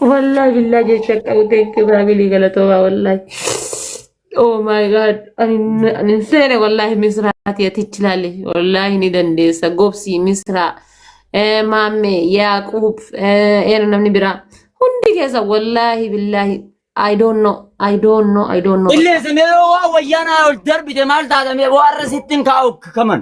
Wallahi billahi jecha qabu thank you family galatoomaa wallahi. Oh my god ani ani hin seene wallahi misraati atichi laale wallahi ni dandeessa gobsi misraa eh, maammee yaaquub eh, eera namni biraa hundi keessa wallahi billahi I don't know I don't know I don't know bakka. Illee isin yeroo waan wayyaanaa ol darbite maal taatame boo har'a sittin kaa'u kaman.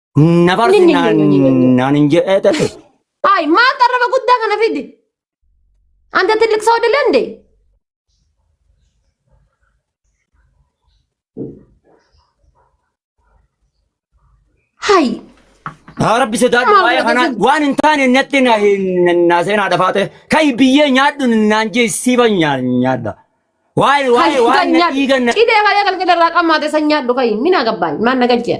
Na barsi naan hin jedhee ta'e. Ay, maal qarraba guddaa kana fidi? Anta tillik soo dilende? Hay, Haa rabbi sodaadhu Maal waa'ee kanaa barbaadu? waan hin taane natti na hin na seenaa dhafaate kan biyyee nyaadhu naan jee siiba nyaa- nyaadha. Waa'ee waa'ee waan na dhiigan na cidee kalee galgala irraa qammaate san nyaadhu kayi. Mina gabbaan, maan na galchee.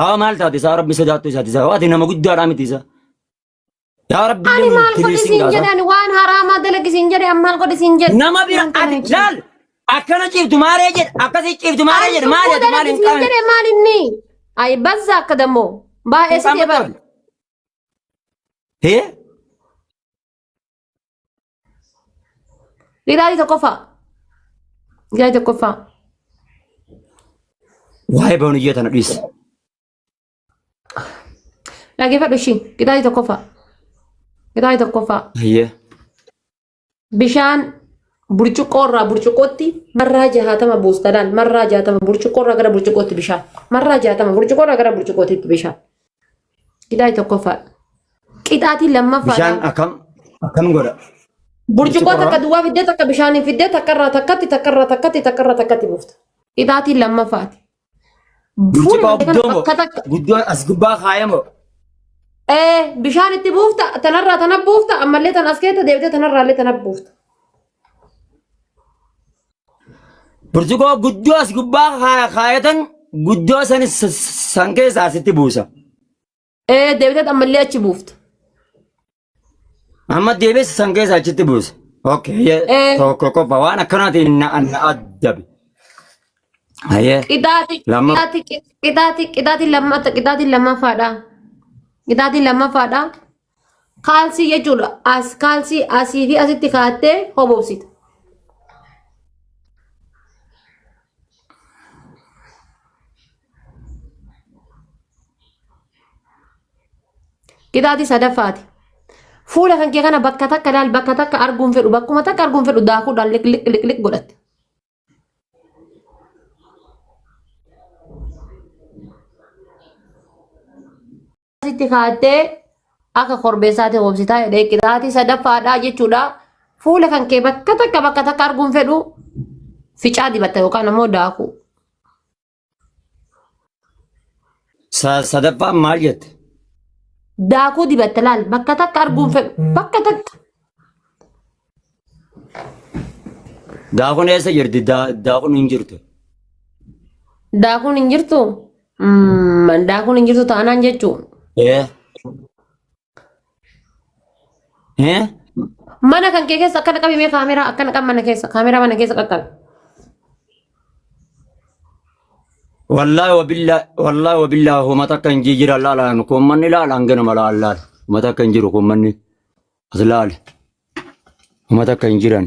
Haa maal taate isaa rabbi sodaattuu isaati isaa waati nama guddaadhaa miti isaa. Yaa rabbi Ani illee maal godhi tiriisiin siin gaasa. jedhan waan haraamaa dalagi siin jedhe an maal godhi siin jedhe. Nama bira Wanta ati kana laal akkana ciiftu maaree jedhe akkasii ciiftu maaree jedhe maali ati maali hin qabne. jedhe maal inni? Ayi bazza akka dammoo baay'ee si Hin qabne deebar. ta'u. Hee? Ilaalii tokkoffaa. Ilaalii tokkoffaa. Waa'ee bahuun ijoo tana dhiisi. Dhaggeeffadhu ishii. Ilaalii tokkoffaa. Ilaalii tokkoffaa. Hayyee. Bishaan burcuqqoo irraa burcuqqootti marraa jahatama buusta laal. Marraa jahatama burcuqqoo irraa gara burcuqqootti bishaan. Marraa jahatama burcuqqoo irraa gara burcuqqootti bishaan. Qixaaxii tokkoffaadha. Qixaaxii lammaffaadha. Bishaan akkam akkam godha? Burcuqqoo Burcuqqoo takka duwwaa fiddee takka bishaaniin fiddee takka irraa takkatti takka irraa takkatti takka irraa takkatti buufta. Qixaaxii lammaffaati. Fuula Burcuqqoo kana guddoo moo? bakka takka Guddoo as gubbaa kaa'ee moo? ee bishaan itti buufta tanarraa tana buufta ammallee tan as keessa deebitee tanarraallee tana buufta. Burcuqoo guddoo as gubbaa kaa- kaayatan guddoo san s- s- san keessaa sitti buusa. Ee deebitee ammallee achi buufta. Amma deebisa san keessaa achitti buusa. Okay, Eh. yeah. tokko qofa waan akkanaatiin na na addabe. Hayyee. Qixaaxi Lama. qixaaxi qixaaxi qixaaxi lammata qixaaxi lammaffaadha. Qixaaxi lammaffaadha. Kaalsii jechuudha. As kaalsii asii fi asitti kaattee hobobsita. Qixaatii sadaffaati. Fuula kan kee kana bakka takka laal bakka takka arguun fedhu bakkuma takka arguun fedhu daakuudhaan liqliq liqliq godhatte. sitti kaattee akka korbeessaatti hoomsitaa jedhee qixaatii sadaffaadhaa jechuudha. Fuula kan kee bakka takka bakka takka arguun fedhu ficaa dibatta yookaan ammoo daakuu. Sa- Sadaffaan maal jette? Daakuu dibatte laal bakka takka arguun fedhu bakka takka. Daakuun eessa jirti? Daa- Daakuun hin jirtu. Daakuun hin jirtu. Mm, Daakuun hin jirtu taanaan jechuun. Ee, Eh? Mana kan kee keessa akkana qabi mee kaameraa akkana qabi mana keessa kaameraa mana keessa qaqqabi. Wallahi wabillahi wallahi wabillahi homa takka hin jijjiira laalaan kun manni laalaan ganama laalaan homa takka hin jiru kun manni as laale homa takka hin jiran.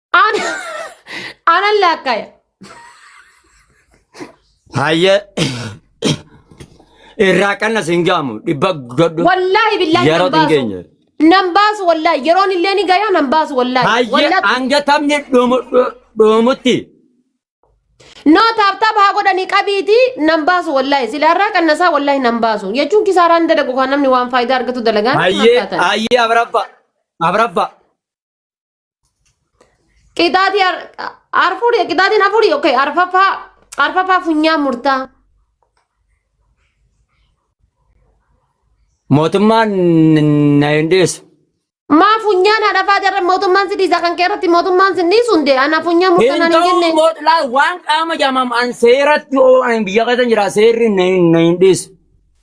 Ana anan laakkaya. Hayyee irraa qannas hin gaamu dhibba godhu Wallaahi billaahi yeroo nan hin baasu. geenye. Nan baasu wallaahi yeroon illee ni gayaa nan baasu wallaahi. Hayyee Wallaahi. hanga taphni dhumu- dhu- dhumutti Noo taaptaap haa godhanii qabiitii nan baasu wallaahi silaarraa qannasaa wallaahi nan baasu jechuun kisaaraan dalagu kan namni waan faayidaa argatu dalagaan hayyee hayyee abrabba abrabba Qixaatii arfurii qixaatiin afurii okay arfaffaa arfaffaa funyaan murtaa. Mootummaan na hin dhiisu. Maa funyaan haadhafaa jarra mootummaan si dhiisa kan kee irratti mootummaan si dhiisu hundee ana funyaan murtaa Hin naan hin ta'u jenne. mootlaa waan qaama jamaam an seeratti oo an biyya keessa jira seerri na hin na hin dhiisu.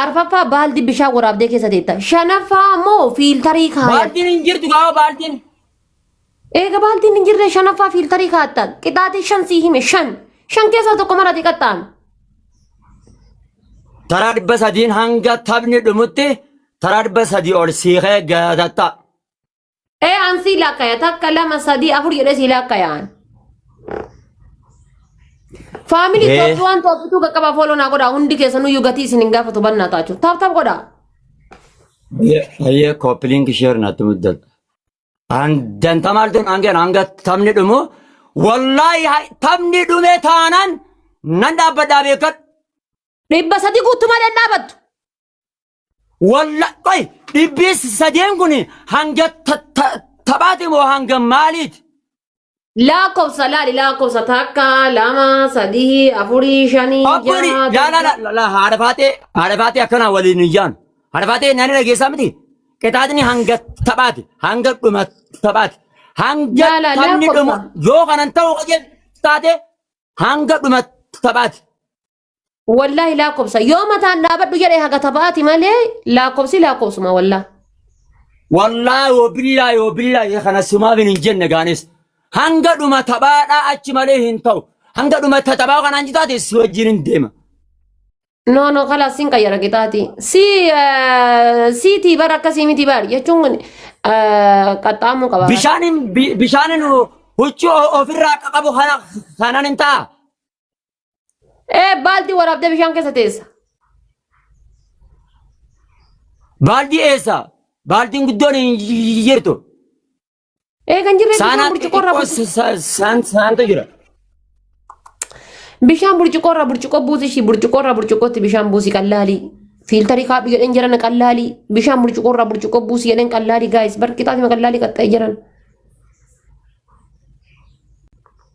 Arfaffaa baaldi bishaan waraabdee keessa teetta. Shanaffaa ammoo fiiltarii kaayata. Baaltiin hin jirtu gaafa baaltiin. Eega baaltiin hin jirre shanaffaa fiiltarii kaatta. Qixaatii shan sii hime shan. Shan keessaa tokko mara xiqqattaan. Taraa dhibba sadiin hanga taphni dhumutti taraa dhibba sadii ol siikee gatatta. Ee an sii laakkaya takka lama sadii afur jedhee sii laakkayaan. Faamilii Ee. Tooppi waan Tooppituu qaqqabaa fooloo naa godhaa hundi keessanuu iyyuu gatii isin hin gaafatu bannaa taachuu. Taap taap godhaa. Ayyee koppiliinki sheer natti muddatu. Danta maaltu hangeen hanga taphni dhumu wallaahi ha- taphni dhume taanaan nan dhaabbadhaa beekadhu. Dhibba sadii guutumaa dhadhaabattu. Walla qoy dhibbii sadeen kun hanga ta- ta- taphaati moo hanga maaliiti? Lakkoofsa laali lakkoofsa takka lama sadii afurii shanii Abbori jaha la la la torba. la la haadha faatee haadha faatee akkanaa waliin hin jaanu. Haadha faatee nani dhageessaa miti. Qixaaxni hanga taphaati hanga dhuma taphaati hanga La la taphni dhumu lakkoofsa. yoo kanan ta'u qajeeltu taate hanga dhuma taphaati. Wallaahi laakkobsa. Yoo mataan dhaabadhu jedhe haga taphaati malee laakkobsi laakkobsuma wallaahi. Wallaahi yoo billaa yoo billaa isa kana simaaf hin jenne gaanis. Hanga dhuma taphaadhaa achi malee hin ta'u. Hanga dhuma taphaa kanaan jitaate si wajjin hin deema. No no kala sin kaya lagi tadi. Si eh, si tibar akka si miti bar. Ya cungun eh, katamu kabar. Bishaaniin bi- bishaaniin huccuu ofirraa qabu kana kanaan hin ta'a. Ee baaltii waraabdee bishaan keessa teessa. Baaldii eessa? Baaldiin guddoon hin jirtu. Ee kan jirre bishaan Saanaa burcuqqoo irraa xixiqqoo buusi. sa- sa- saan saantu jira. Bishaan burcuqqoo irraa burcuqqoo buusi ishii burcuqqoo irraa burcuqqootti bishaan buusi qallaalii. Fiiltarii kaadhu jedheen jiran qallaalii. Bishaan burcuqqoo irraa burcuqqoo buusi jedheen qallaalii gaayis barqixaa fi qallaalii qaxxa'ee jiran.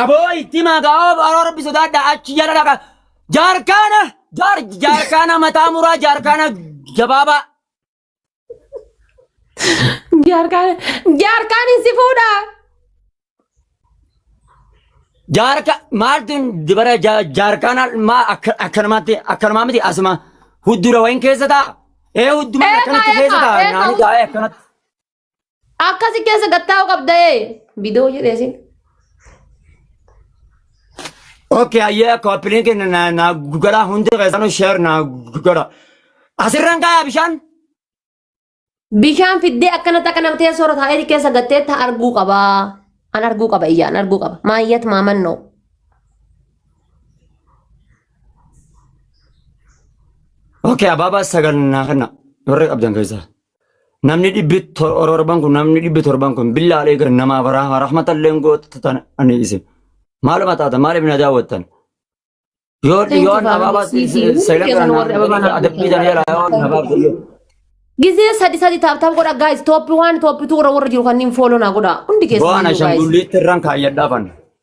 Aboo itti himaa gaa'oo baaroo rabbi sodaadha achi jala dhaqa. Jaarkaana jaar jaarkaana mataa muraa jaarkaana gabaabaa. Jaarkaan jaarkaan hin si fuudha. Jaarka maaltu dibara ja- jaarkaana maa akka- akkanumatti akkanumaa miti asuma huddura wayin keessa ta'a. Ee hudduma Eegaa, akkanatti keessa eegaa, ta'a eegaa, naani gaa'ee akkanatti. Akkasi keessa gattaa'u qabda ee. Bidoo jedhee sin. Okay, hayyee koppiliin keenya na na gara hundi keessanuu sheer na gara. Asirraan kaayaa bishaan. Bishaan fiddee akkanatti akka nama teessoo irra taa'ee keessa gattee ta arguu qaba. An arguu qaba iyyaa an arguu qaba. Maayyat maamannoo. Okay, abaabaa sagal na kenna. Warri qabdan keessaa. namni dhibbi tor- torban kun namni dhibbi torban kun billaa aleeka namaaf rahma rahmatalleen gootan ani isin maaluma taatan maaliif na daawwattan yoo Thank you, yoo Faamilii abaabaa siifii. Hundi seela keessan kana warri ababaa naaf adabbii godhan. tan jala yoo nabaaf yoo Gizee sadi sadi taaptaap godha guys tooppi waan tooppi tuura warra jiru kanneen fooloo naa godha hundi keessan waan iyyuu, guys. ashanguliitti irraan kaayyadhaafan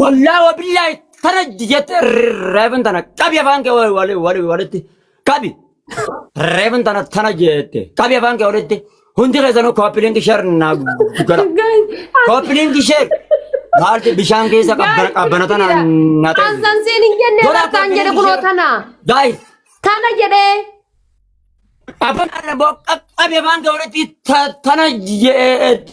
Wallaahi wabillaahi tana jette reefin tana qabi afaan kee wal- wal- wal- walitti qabi. Reefin tana tana jette qabi afaan kee walitti hundi keessanuu kooppilingi sheer naa gara. Guys, as- Kooppilingi sheer maaltu bishaan keessa guys, qabbana qabbana tana please, na ta'e. Ansan siin hin jenne Godhaa irrattaan jedhe kooppilingi kunoo sheer. tana. Guys Tana jedhee. afaan arra boo qabi afaan kee walitti ta- tana jette.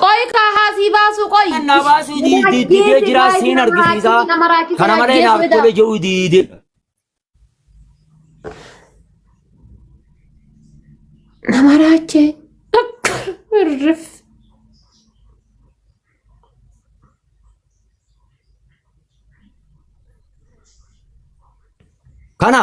Qoy kaa haasii baasuu qoy. Kan na baasuu di- di- didee jiraa siin argisiisaa. Kana malee naaf tole jedhuu diide. Nama raachee. Irrif. Kana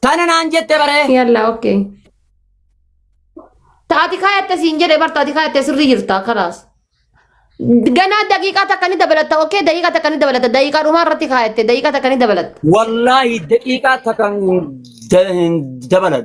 Tana naan jette baree. Yalla okay. Taati kaayatte siin jedhe bar taati kaayatte sirrii jirta kalaas. Ganaa daqiiqaa takka ni dabalatta okay daqiiqaa takka ni dabalatta daqiiqaa dhumaa irratti kaayatte daqiiqaa takka ni dabalatta. Wallaahi daqiiqaa takka hin hin dabalan.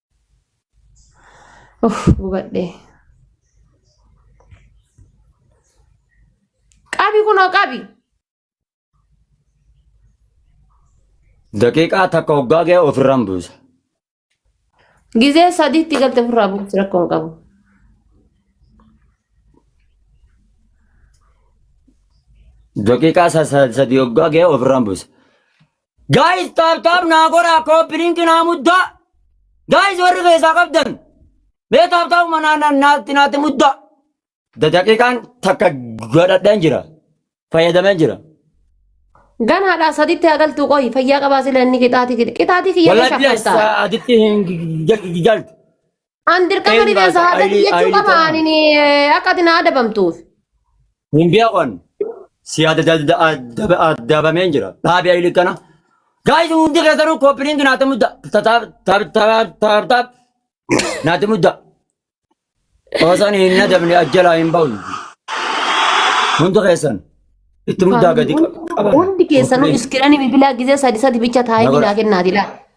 Uff gubadhe. Qabi kunoo qabi. Daqiiqaa takka hoggaa ga'e ofirraan buusa. Gizee sadiitti galte ofirraa buusi rakkoo hin qabu. Daqiiqaa sa- sa- sadii hoggaa ga'e ofirraan buusa. Guys taap taap naa godhaa kooppi linki naa muddaa. Guys warri keessaa qabdan. Mee taap taap manaa na- naatti naatti muddaa. Da daqiiqaan takka godhadheen jira. Fayyadameen jira. Ganaadhaa sadiitti haa galtuu qoyi fayyaa qabaa sila inni qixaatii kiyya. Qixaatii kiyya Wallahi ni bilas shaffaltaa. aditti hin galtu. An dirqama Eenyu rifeensa laata? haadhatti Ayilii- jechuu ayilii qaba ta'a. ani akka ati na adabamtuuf. Hin beekan. Si adabameen jira. Dhaabi ayili kana. Gaayis hundi keessanuu kooppiin naati mudda. Taaptaap. Naati mudda. Osaan hin nadabne ajjalaa hin ba'u. Hundi keessan. Itti muddaa gadi qaba. Hundi keessanuu iskiranii bilbilaa gizee sadi sadi bicha taa'ee Nagara. naa kennaati laa.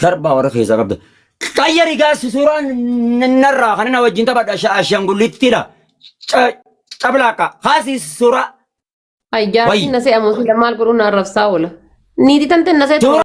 Sarbaa warra keessaa qabda. Qayyari gaassi suuraa narraa kan na wajjin taphadha ashaangullittidha. Cablaaqa kaasi suuraa. Ay jaartiin wayyi. na se'a moo sila maal godhuu na arrabsaa oola. Niitii tante na seetu Suuraa